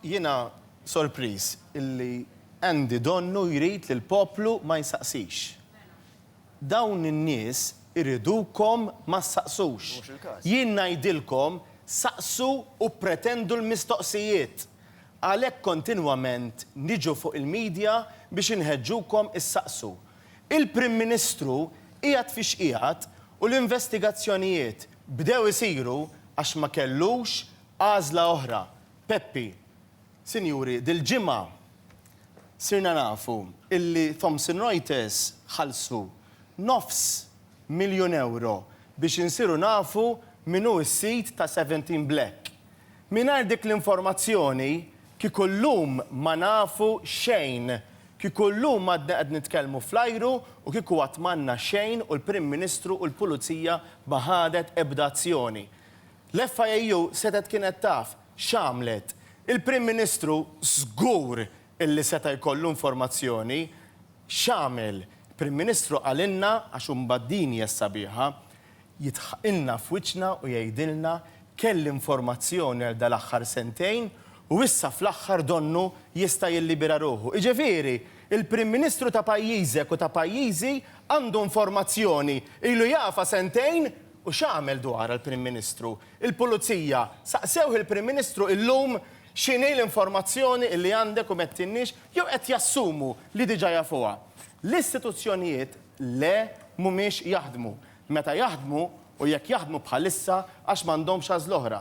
Jiena sorpriż illi Andy donnu jrid li l-poplu ma jsaqsix. Dawn in-nies iridukom ma ssaqsux. Jien ngħidilkom saqsu u ppretendu l-mistoqsijiet. Għalhekk kontinwament niġu fuq il-media biex inħeġġukom issaqsu. Il-Prim Ministru qiegħed fi x'qiegħed u l-investigazzjonijiet bdew isiru għax ma kellux Għażla oħra, Peppi. Sinjuri, dil-ġimgħa sirna nafu illi Thomson Reuters ħallsu nofs miljun ewro biex insiru nafu min hu s-sid ta' Seventeen Black. Mingħajr dik l-informazzjoni kieku llum ma nafu xejn, kieku llum għadna qed nitkellmu fl-ajru u kieku għad m'għandna xejn u l-Prim Ministru u l-Pulizija ma ħadet ebda azzjoni. L-FIAU setgħet kienet taf x'għamlet. Il-Prim Ministru żgur illi seta' jkollu informazzjoni x'għamel. Il-Prim Ministru qalilna, għax imbagħad din hija s-sabiħa, jidħqilna f'wiċċna u jgħidilna kelli informazzjoni għal dal-aħħar sentejn u issa fl-aħħar donnu jista' jillibera ruħu. Jiġifieri, il-Prim Ministru ta' pajjiżek u ta' pajjiżi għandu informazzjoni, ilu jafha sentejn U x'għamel dwarha l-Prim Ministru? Il-Pulizija saqsewh il-Prim Ministru illum x'inhi l-informazzjoni illi għandek u m'għedtinniex jew qed jassumu li diġa jafuha. L-istituzzjonijiet le mhumiex jaħdmu. Meta jaħdmu u jekk jaħdmu bħalissa għax m'għandhomx għażl'oħra.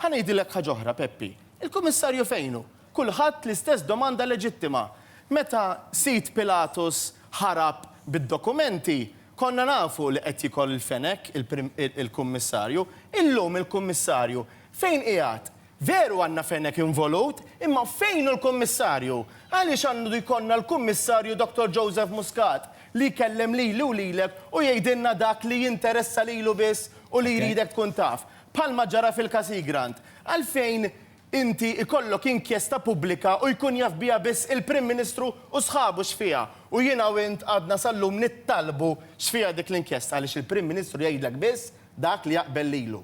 Ħa ngħidilek ħaġ'oħra Peppi, il-Kummissarju fejn hu? kulħadd l-istess domanda leġittima. Meta sid Pilatus ħarab bid-dokumenti, konna nafu li qed jikol il-fenek il-Kummissarju. Illum il-Kummissarju fejn qiegħed? Veru għandna fenek involut, imma fejn hu l-Kummissarju? Għaliex għandu jkollna l-Kummissarju Dottor Joseph Muscat li jkellem lili u lilek u jgħidilna dak li jinteressa lilu biss u li jridek tkun taf? Bħalma ġara fil-każ Hegrand. Għalfejn Inti ikollok inkjesta pubblika u jkun jaf biha biss il-Prim Ministru u sħabu x'fiha u jiena u int għadna sal-lum nittalbu x'fiha dik l-inkjesta għaliex il-Prim Ministru jgħidlek biss dak li jaqbel lilu.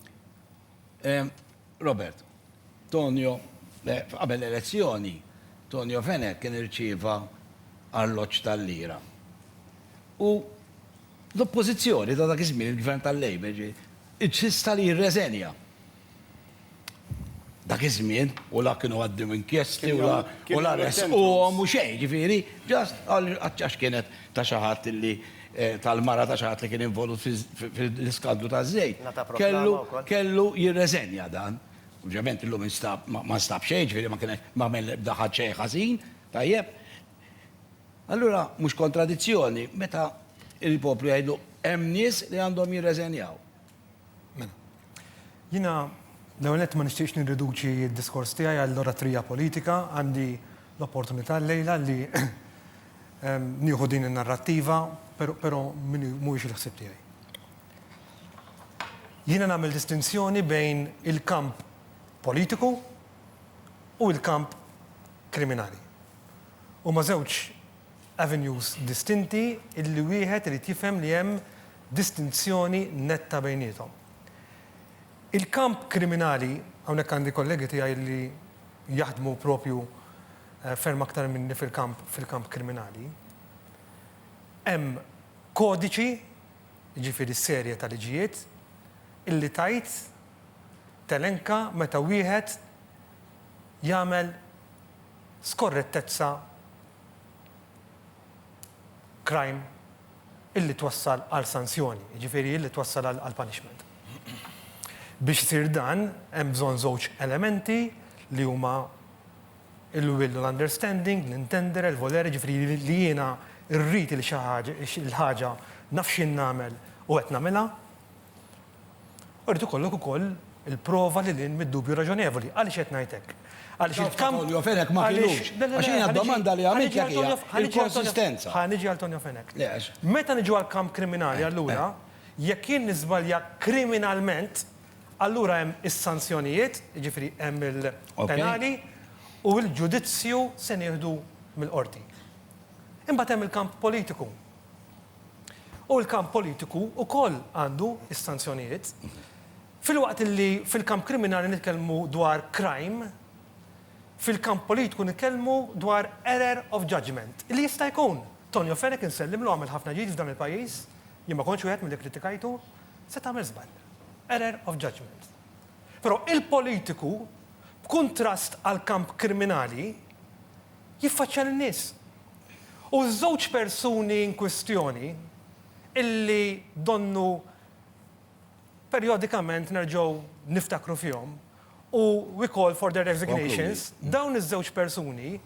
Robert, Tonio, qabel l-elezzjoni, Tonio Fenech kien irċieva arloġġ tal-lira. U l-Oppożizzjoni ta' dak iż-żmien, il-Gvern tal-Labour, insista li jirreżenja. Dak iż-żmien, u la kienu għaddew inkjesti u la u la resquhom u xejn, ġifieri, just għal għax kienet ta' xi ħadd illi eh, tal-mara ta' xi ħadd li kien involut fil-iskandlu taż-żejt. Kellu kellu jirreżenja dan. Ovvjament illum instab ma nstab xejn, ġifieri ma kien ma għamel l-ebda ħadd xejn ħażin, tajjeb. Allura mhux kontradizzjoni meta il-poplu jgħidu hemm nies li għandhom jirreżenjaw. Mela. Jiena l-ewwel nett ma nixtieqx nirriduċi d-diskors tiegħi għall-oratrija politika, għandi l-opportunità llejla li nieħu din in-narrattiva, però mhuwiex il-ħsieb tiegħi. Jiena nagħmel distinzjoni bejn il-kamp politiku u l-kamp kriminali. Huma żewġ avenues distinti illi wieħed irid jifhem li hemm distinzjoni netta bejniethom. Il-kamp kriminali, hawnhekk għandi kollegi tiegħi illi jaħdmu proprju ferm aktar minni fil-kamp fil-kamp kriminali, hemm kodiċi, jiġifieri serje ta' liġijiet, illi tgħid, telenka meta wieħed jagħmel, skorrettezza crime illi twassal għal sanzjoni, jiġifieri illi twassal għal punishment. Biex isir dan hemm bżonn żewġ elementi li huma il-will u l-understanding, l-intendere, l-volere, jiġifieri li jiena rrid il-ħaġa, naf x'inagħmel u qed nagħmilha. U jrid ikollok ukoll il-prova lil hinn mid-dubju raġonevoli. Għaliex qed ngħid hekk? Għaliex il-kamp. Antonio Fenech ma kinux. Għax hija d-domanda li għamiltlek hija l-konsistenza. Ħa niġi għal Tonio Fenech. Meta niġu għall-kamp kriminali allura, jekk jien niżbalja kriminalment, allura hemm is-sanzjonijiet, jiġifieri hemm il-penali, u l-ġudizzju se nieħdu mill-qorti. Imbagħad hemm il-kamp politiku. U l-kamp politiku wkoll għandu s-sanzjonijiet. Filwaqt li fil-kamp kriminali nitkellmu dwar crime, fil-kamp politiku nitkellmu dwar error of judgement, li jista' jkun. Tonio Fenech insellmlu għamel ħafna ġid f'dan il-pajjiż, jien ma kontx wieħed milli kkritikajtu, seta' għamel żball. Error of judgement. Però il-politiku, b'kuntrast għall-kamp kriminali, jiffaċċja lin-nies. U ż-żewġ persuni inkwistjoni, illi donnu perjodikament nerġgħu niftakru fihom, u we call for their resignations, dawn iż-żewġ persuni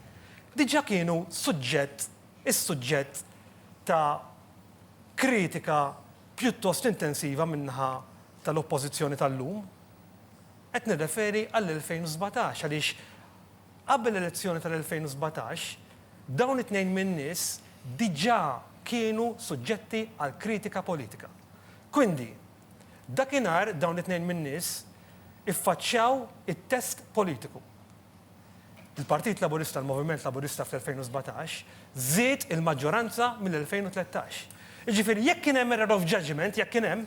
diġà kienu suġġett, is-suġġett ta' kritika pjuttost intensiva min-naħa tal-Oppożizzjoni tal-lum. Qed nirreferi għall-2017 għaliex, Qabel l-elezzjoni tal-2017, dawn it-tnejn min-nies diġà kienu suġġetti għal kritika politika. Quindi, dakinhar dawn it-tnejn min-nies iffaċċjaw it-test politiku. Il-Partit Laburista, il-Moviment Laburista fl-2017 żied il-maġġoranza mill-2013. Jiġifieri jekk kien hemm error of judgement, jekk kien hemm,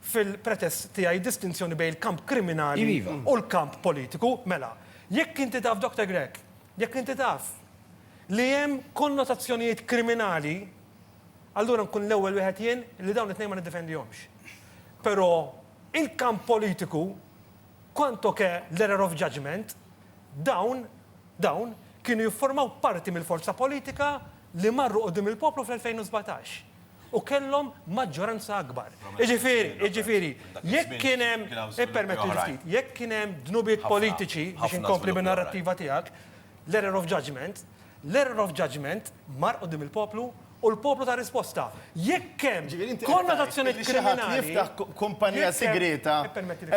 fil-pretest tiegħi distinzjoni bejn il-kamp kriminali u l-kamp politiku. Mela, jekk inti taf, Doktor Grech, jekk inti taf li hemm konnotazzjonijiet kriminali, allura nkun l-ewwel wieħed jien li dawn it-tnejn ma niddefendihomx. Però il-kamp politiku, quanto che l-error of judgement, dawn, dawn, kienu jifformaw parti mill-forza politika li marru quddiem il-poplu fl-2017. u kellhom maġġoranza akbar. Jiġifieri, jiġifieri, jekk kien hemm, ippermettili ftit, jekk kien hemm dnubiet politiċi, biex inkompli bin-narrattiva tiegħek, l-error of judgement, l-error of judgement mar quddiem il-poplu u l-poplu ta risposta. Jekk hemm konnotazzjonijiet kriminali, jekk hemm, ippermettili ftit, jekk hemm, kumpanija sigrieta,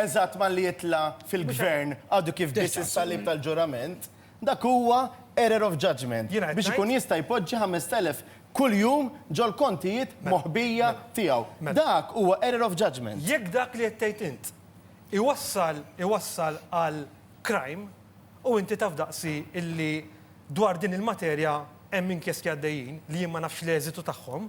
eżatt malli jitla' fil-Gvern għadu kif biss is-salib tal-ġurament, Dak huwa error of judgement Jiena qed biex ikun ngħid. jista' jpoġġi 5,000 kuljum ġol-kontijiet moħbija tiegħu. Mela. Dak huwa error of judgement. Jekk dak li qed tgħid int iwassal iwassal għal crime, u inti taf daqsi illi dwar din il-materja hemm inkjesti għaddejjin li jien ma nafx l-eżitu tagħhom,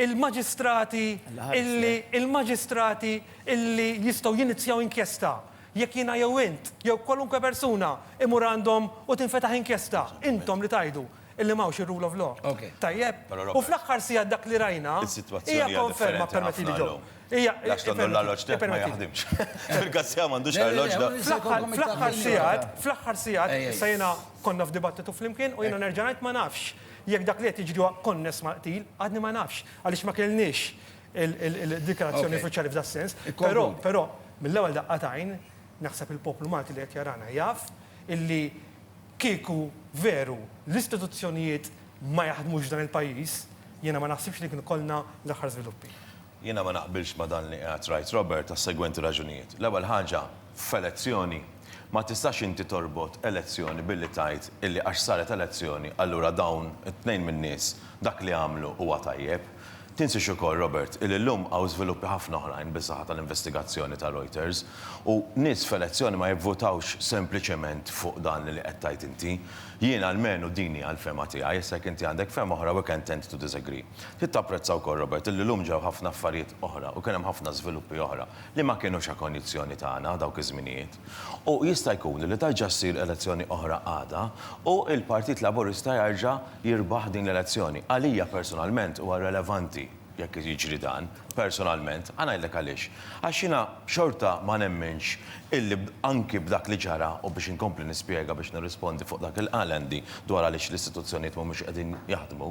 il-maġistrati illi il-maġistrati illi jistgħu jinizjaw inkjesta jekk jiena jew int jew kwalunkwe persuna imur għandhom u tinfetaħ inkjesta, intom li tgħidu illi m'hawnx ir-rule of law. Tajjeb? U fl-aħħar siegħat dak li rajna hija konferma, permettili John, hija, ippermettili, fl-aħħar siegħat, fl-aħħar siegħat, issa jiena konna f'dibattitu flimkien u jiena nerġa' ngħid ma nafx, Jekk dak li qed jiġri huwa konness mal-qtil, għadni ma nafx, għaliex ma kellniex il-dikjarazzjoni uffiċjali f'das-sens. Però, però, mill-ewwel daqqa t'għajn, naħseb il-poplu Malti li qed jarana jaf illi kieku veru l-istituzzjonijiet ma jaħdmux f'dan il-pajjiż, jiena ma naħsibx li kien ikollna l-aħħar żviluppi. Jiena ma naqbilx ma' dan li qiegħed Right Robert għas-segwenti raġunijiet. L-ewwel ħaġa, f'elezzjoni, ma tistax inti torbot elezzjoni billi tgħid illi għax saret elezzjoni allura dawn it-tnejn min-nies dak li għamlu huwa tajjeb. Tinsiex ukoll, Robert, illi llum hawn żviluppi ħafna oħrajn bis-saħħa tal-investigazzjoni ta' Reuters u nies f'elezzjoni ma jivvutawx sempliċement fuq dan li qed tgħid inti. Jiena almenu din hija l-fehma tiegħi, issa jekk inti għandek fehma oħra we can tend to disagree. Trid tapprezza wkoll, Robert, illi llum ġew ħafna affarijiet oħra u kien hemm ħafna żviluppi oħra li ma kinux a condizione tagħna dawk iż-żminijiet. U jista' jkun li terġa' ssir elezzjoni oħra għada u l-Partit Laburista jerġa' jirbaħ din l-elezzjoni. Għalija personalment huwa relevanti jekk jiġri dan, personalment. Ħa ngħidlek għaliex. Għax jiena xorta ma nemminx illi anki b'dak li ġara, u biex inkompli nispjega biex nirrispondi fuq dak li qal Andy dwar għaliex l-istituzzjonijiet mhumiex qegħdin jaħdmu,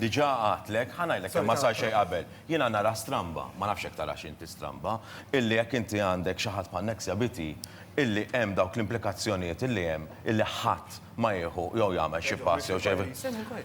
Diġà għadtlek, ħa ngħidlek kemm ma sar xejn qabel. Jiena nara stramba, ma nafx jekk tarax inti stramba, illi jekk inti għandek xi ħadd bħal Nexia Biti, illi hemm dawk l-implikazzjonijiet illi hemm, illi ħadd ma jieħu jew jagħmel xi pass jew xejn.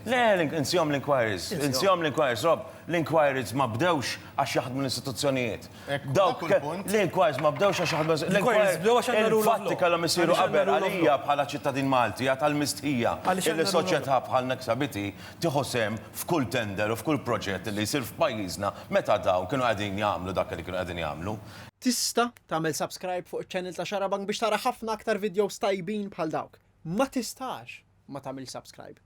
Le, insihom l-inquiries, insihom l-inquiries, Rob, l-inquiries ma bdewx għax jaħdmu l-istituzzjonijiet. Dawk l-inquiries ma bdewx għax aħna l-inquiries bdew għax aħna fatti kellhom isiru qabel għalija bħala ċittadin Malti għad tal-mistħija li soċjetà bħal Nexabity tieħu sehem f'kull tender u f'kull proġett li jsir f'pajjiżna meta dawn kienu qegħdin jagħmlu dak li kienu qegħdin jagħmlu. Tista' tagħmel subscribe fuq iċ-channel ta' Xarabank biex tara ħafna aktar videos tajbin bħal dawk. Ma tistax ma tagħmilx subscribe.